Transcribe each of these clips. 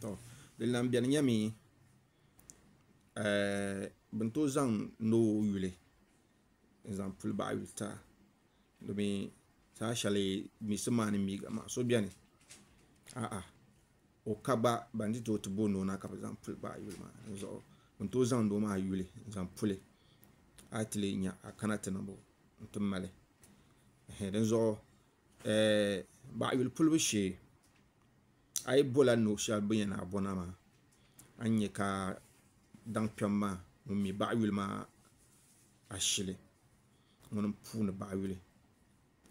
to di lan beni nyɛmi eh, bin tooi zaŋ ni o yuli n zaŋ puli baɣa yuta domi saha shɛli misi maa ni miigi maa so biɛni aɣa o ka gba ban ni tooi ti bo ni o na ka bi zaŋ puli baɣa yuli maa dizuɣu bin tooi zaŋdi o maa yuli n zaŋ puli a yi ti lihi nya a kana ti niŋbu n ti mali dinzuɣu baɣa yuli pulibu shee A yi bɔla ni o shɛli bɛn yɛn a bɔna maa, a ni nya ka daŋ kpɛm maa ŋun mi baɣa yuli maa ashili ŋuni m-puuni baɣa yuli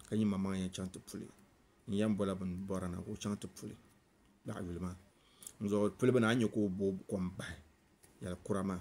ka nyimamaŋ yɛn chaŋ ti puli n yɛn bɔla bɛn bɔri na ka o chaŋ ti puli baɣa yuli maa. N zuɣu puli bini a ni nya ka o booi kom bahi yɛlikura maa.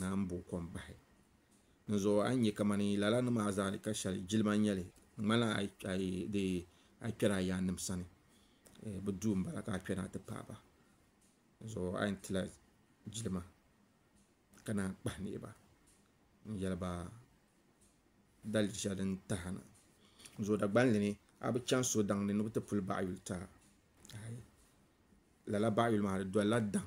naan bo kom bahi dinzuɣu a ni nyɛ kamani lala ni maa zaa ka shɛli jilima n nyɛli di ŋmanila a kpɛla a yaannim sani bi duu n bala ka a kpɛna a ti paaba dinzuɣu a yɛn tila jilima ka naan kpahi niɣi ba n yɛli ba dalim shɛli din taha na dinzuɣu dagbamli ni a bi chɛŋ so daŋ ni ni bi ti puli baɣa yuli taa lala baɣa yuli maa di dolila daŋ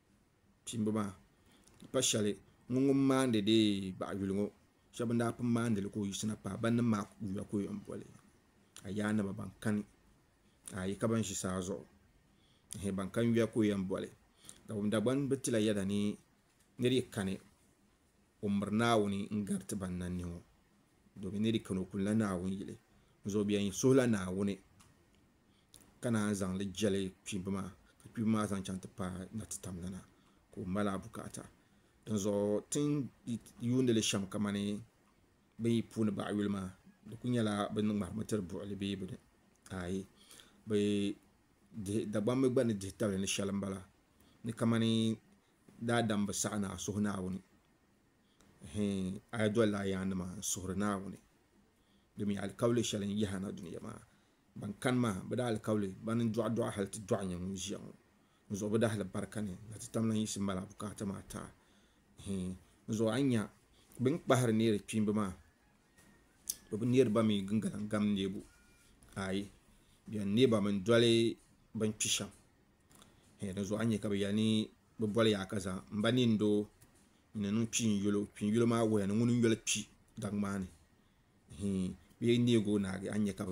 kpimba maa n pa shɛli ŋɔ ŋun maandi deei baɣa yuli ŋɔ shɛba ban daa pun maandi li ka o yiɣisina paai ban nim maa yuya ka o yɛn boli a yaa a naba ban kani ka a yɛ ka ban ʒi saa zuɣu ɛɛh ban kani yuya ka o yɛn boli Dagbamb Dagban bi ti la yɛda ni ni di kani o miri Naawuni n gari ti ban na ni ŋɔ domi ni di kani o kuli la Naawuni yili n zuɣu bɛn suhila Naawuni. ka naan zaŋ li jɛli kpiimba maa ka kpiimba maa zaŋ chaŋ ti paai na ti tam nana ka o mali a bukaata dinzuɣu ti ni yuundi li shɛm kamani bɛ yi puuni baɣa yuli maa di ku nyɛla bɛ ni ŋmahirimi tiri buɣuli bee bini aai bɛ dihi Dagbaŋ mi gba ni dihi tabili ni shɛli m-bala ni kamani daadam bi saɣi ni a suhi Naawuni hii a yi dolila a yaannima n-suhiri Naawuni domi alikauli shɛli n-yahi a na dunia maa Ban kani maa, bɛ daa alikauli bana n-dɔɣi dɔɣi hal ti dɔɣi nyɛ ŋun ʒiya ŋɔ. N zuɣu bi daa hali barika ni na ti tam lan yiɣisi m-mali a bukaata maa taai. Hii, n zuɣu a ni nya bɛ ni kpahiri neeri kpiimba maa, bɛ bi neeri ba mi gingalan gam neebu. Aai, bɛ yɛn neei ba min doli bɛ ni kpi shɛm. Hii, di zuɣu a ni nya ka bɛ yɛli ni bɛ boli yaa ka zaŋ m ba neei n-doo n-niŋ niŋ kpiinyulo. Kpiinyulo maa wuhiya ni ŋuni n-yoli kpi daŋgbani. bee neeg o naagi a ni nya ka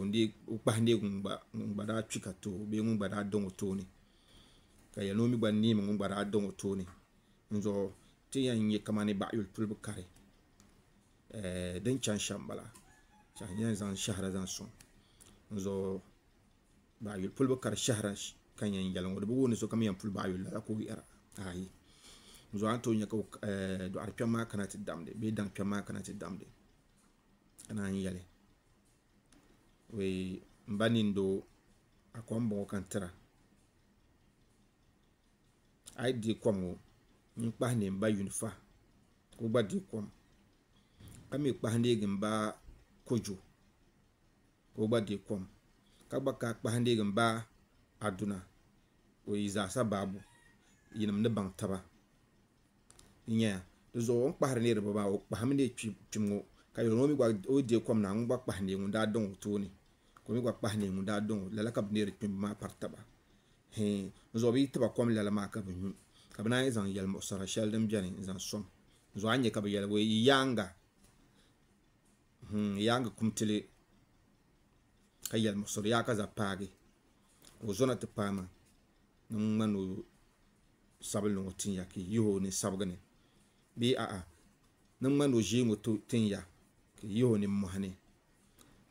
o kpahi neeg ŋun gba daa kpi ka too bee ŋun gba daa daŋ o tooni ka yɛli ni o mi gba neemi ŋun gba daa daŋ o tooni dinzuɣu ti yɛn nya kamani baɣa yuli tulibu kari din chani shɛm m-bala ka n yɛn zaŋ shɛhira zaŋ sɔŋ dinzuɣu baɣa yuli pulibu kari shɛhira ka n yɛn yɛli ŋɔ di bi wuhi ni sokam yɛn puli baɣa yuli lala ka o yɛra aai dinzuɣu a ni tooi nya ka dɔɣiri kpɛm maa kana ti damdi bee daŋ kpɛm maa kana ti damdi ka naan yɛli wee n ba nin doo a kom bɔŋɔ ka n tira a yi deei kom ŋɔ n kpahi neei n ba Yunifa ka o gba deei kom ka mii kpahi neei n ba Kojo ka o gba deei kom ka gba lahi kpahi neei n ba Aduna ka o yi zaasa baabu yinim ni baŋ taba n nyɛ ya di zuɣu o ni kpahiri neei riba maa o kpahimi neei kpim ŋɔ ka yuli ŋɔ mi gba o yi deei kom na ŋun gba kpahi neei ŋun daa daŋ o tooni ka o mi gba kpahi neei ŋun daa daŋ o lala ka bi neeri kpimbu maa pari taba hee di zuɣu bi yi tiba kom lala maa ka bi nyu ka bi naan yi zaŋ yɛlimuɣisira shɛli din beni n zaŋ sɔŋ di zuɣu a ni nya ka bi yɛli bɔɔ yi yaaŋa hmm, yaaŋa kum tili ka yɛlimuɣisiri yaa ka za paagi ka o zona ti paai maa ni ŋun ŋmani o sabinli ŋɔ tin ya ki yihi o ni sabigi ni, bee a'a, ni ŋmani o ʒee ŋɔ tin ya ki yihi o ni mɔhi ni,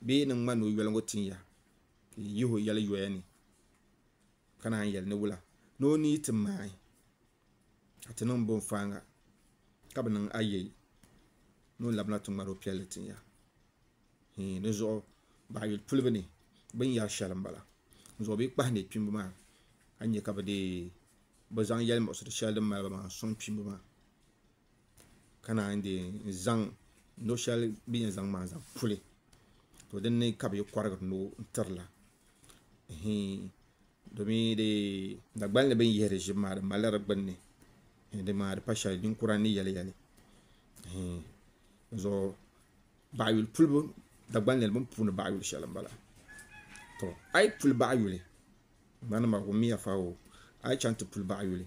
bee ni ŋmani o yoli ŋɔ tin ya ki yihi o yɛli yoya ni, ka naan yɛli ni wula ni o ni yi ti maai. ka ti niŋ bɔn faaŋa ka bi niŋ ayɛi ni o labina ti ŋmari o piɛlli tin ya hii di zuɣu baɣa yuli pulibu ni bin yɛri shɛli n bala n zuɣu bee kpahi ni kpimbu maa a ni nyɛ ka bi dee bi zaŋ yɛli muɣisiri shɛli din mali ba maa n sɔŋ kpimbu maa ka naan yi zaŋ no shɛli bi ni yɛn zaŋ maa zaŋ puli to dinni ka bi yi kɔrigiri noo tirila domi Dagban ni bini yihiri ʒim maa di malila di gbunni di maa di pa shɛli ninkura ni yɛli yɛli Dagban ni bini puuni baɣa yuli shɛli n bala to a yi puli baɣa yuli ŋmanima wumiya fa o a yi chaŋ ti puli baɣa yuli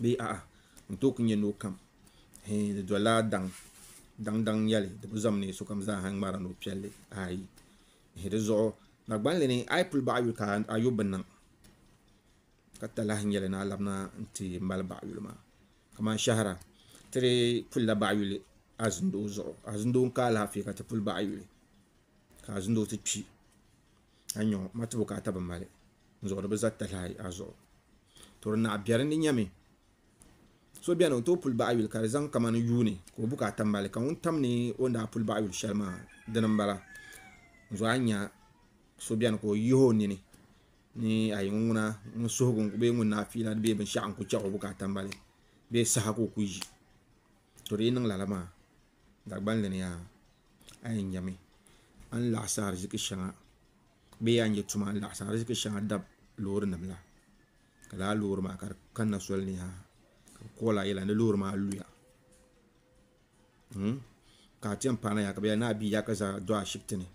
bee a'a n tooi ku nyɛ ni o kam hee di dolila daŋ daŋ daŋ nyɛli di bi zam ni sokam zaa n ŋmari ni o piɛlli ayi di zuɣu dagbanli ni a yi puli baɣa yuli ka a yo bi niŋ ka talahi nyɛli ni a labina n ti mali baɣa yuli maa kamani shahara ti di pulila baɣa yuli azindoo zuɣu azindoo n ka alaafee ka ti puli baɣa yuli ka azindoo ti kpi a nyɛ ŋɔ matubu ka a tabi mali n zuɣu di bi za talahi ayi a zuɣu to di naɣa biɛri ni nyɛmi so bɛni o tooi puli baɣa yuli ka di zaŋ kamani yuuni ka o bu ka a tabi mali ka ŋun tam ni o ni daa puli baɣa yuli shɛli maa dini n bala n zuɣu a nya so bɛni ka o yihi o nini ni a yi ŋuna ŋun suhugu bee ŋun naa fiila bee binshaɣu n ku chɛɣu bu ka a tabi mali bee saha ka o ku yi to di yi niŋ lala maa Dagbani ni yaa a yɛn nyɛmi a ni laɣasi ariziki shɛŋa bee a ni yɛ tuma a ni laɣasi ariziki shɛŋa dab loori nim la ka laa loori maa ka di kanna soli ni yaa ka bi kool a yɛla ni loori maa luya ka a ti yɛn paana yaa ka bi yɛli ni a bia yaa ka za do ashibiti ni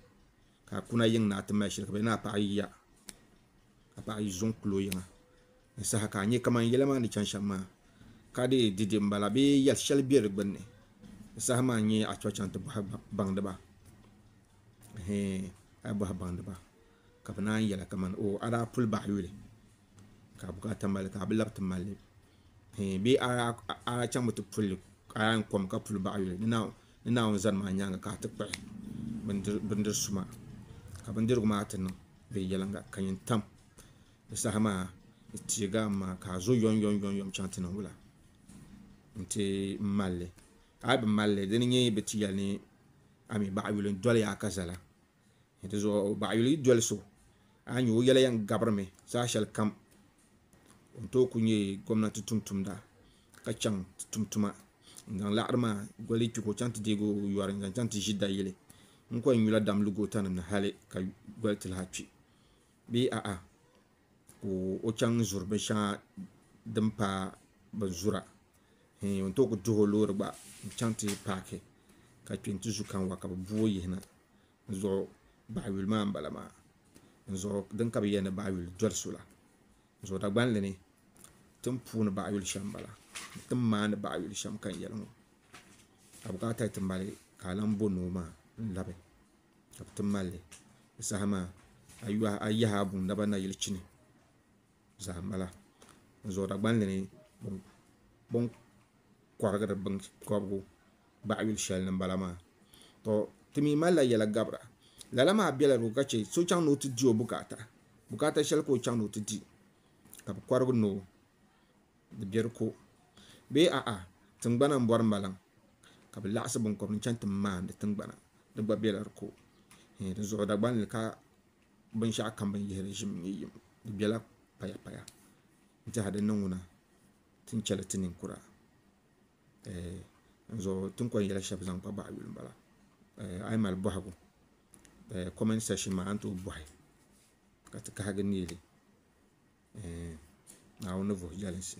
ka a kuna yiŋ ni a ti mali shili ka bɛ ni a paɣi ya ka paɣi yi zuŋ kuli o yiŋa ni saha ka a nya kaman yɛla maa ni chaŋ shɛm maa ka dii di di m-bala bee yɛl shɛli be di gbunni ni saha maa n-nyɛ a tɔɣi chaŋ ti bɔhi baŋdiba ɛɛn a yi bɔhi baŋdiba ka bɛ naan yɛla kaman oo a daa puli baɣi yuli ka a bukaata mali li ka a bi labi ti mali li ɛɛn bee a daa chaŋmi ti puli li ka a daa yɛn kom ka puli baɣi yuli. Ni Naawuni zani maa nyaaŋa ka a ti kpuɣi bindiri su maa, ka bindirigu maa ti niŋ bɛ yɛliŋga, ka nyin tam bɛ saha maa ni teeg a maŋa ka a zo yomyomyom chaŋ ti ni wula nti mal li. A yi bi mal li, di ni nyɛ bɛ ti yɛli ni a mi baɣa yuli n-doli ya a ka zala. N tizuɣu o baɣayuli yi doli so, a nya o yɛla yɛn gabirimi zaɣ shɛli kam. O ni tooi kuli nyɛ gomnati tumtumda ka chaŋ ti tum tuma n-zaŋ laɣiri maa goli kpi ka o chaŋ ti deeg o yɔri n-zaŋ chaŋ ti ʒi dayili n-kɔhi nyula dam lu gootanim ni hali ka goli ti lahi kpi bee a'a ka o chaŋ zuri binshɛŋa din paai bin zura. n yɛn tooi ku duhi o loori gba n chɛŋ ti paaki ka kpɛ n ti zu kanwa ka bi bu o yihina n zuɣu baɣa yuli maa n bala maa n zuɣu din ka bi yɛli ni baɣa yuli doli so la n zuɣu dagbanli ni tin puuni baɣa yuli shɛm n bala ni tin maandi baɣa yuli shɛm ka n yɛli ŋɔ ka bi kana ti ti mali ka a lahi bo noo maa n labi ka bi ti malli di saha maa a yaha a buŋ naba na yili chini zahim mala n zuɣu Dagbanli ni bi ni kɔrigiri binkɔbigu baɣa yuli shɛli ni m-bala maa to ti mi malila yɛla gabira lala maa bela di ka che so chaŋ ni o ti di o bukaata bukaata shɛli ka o chaŋ ni o ti di ka bi kɔrigi ni o di be di ko bee a'a tingbana m-bɔri maliŋ ka bi laɣisi binkɔbiri n-chaŋ ti maandi tingbana di gba bela di ko dinzuɣu Dagbanli ka binshɛɣu kam bini yihiri ʒim n-nyɛ yim. Di bela payapaya nti ha di ni ŋuna ti ni chɛli ti ninkura ɛɛh dinzuɣu ti ni kɔŋ yɛli shɛba zaŋ kpa baɣa yuli m-bala ɛɛh a yi mali bɔhigu ɛɛh comment section maa a ni tooi bɔhi ka ti kahigi neeli ɛɛh Naawuni ni vuhi jɛlinsi.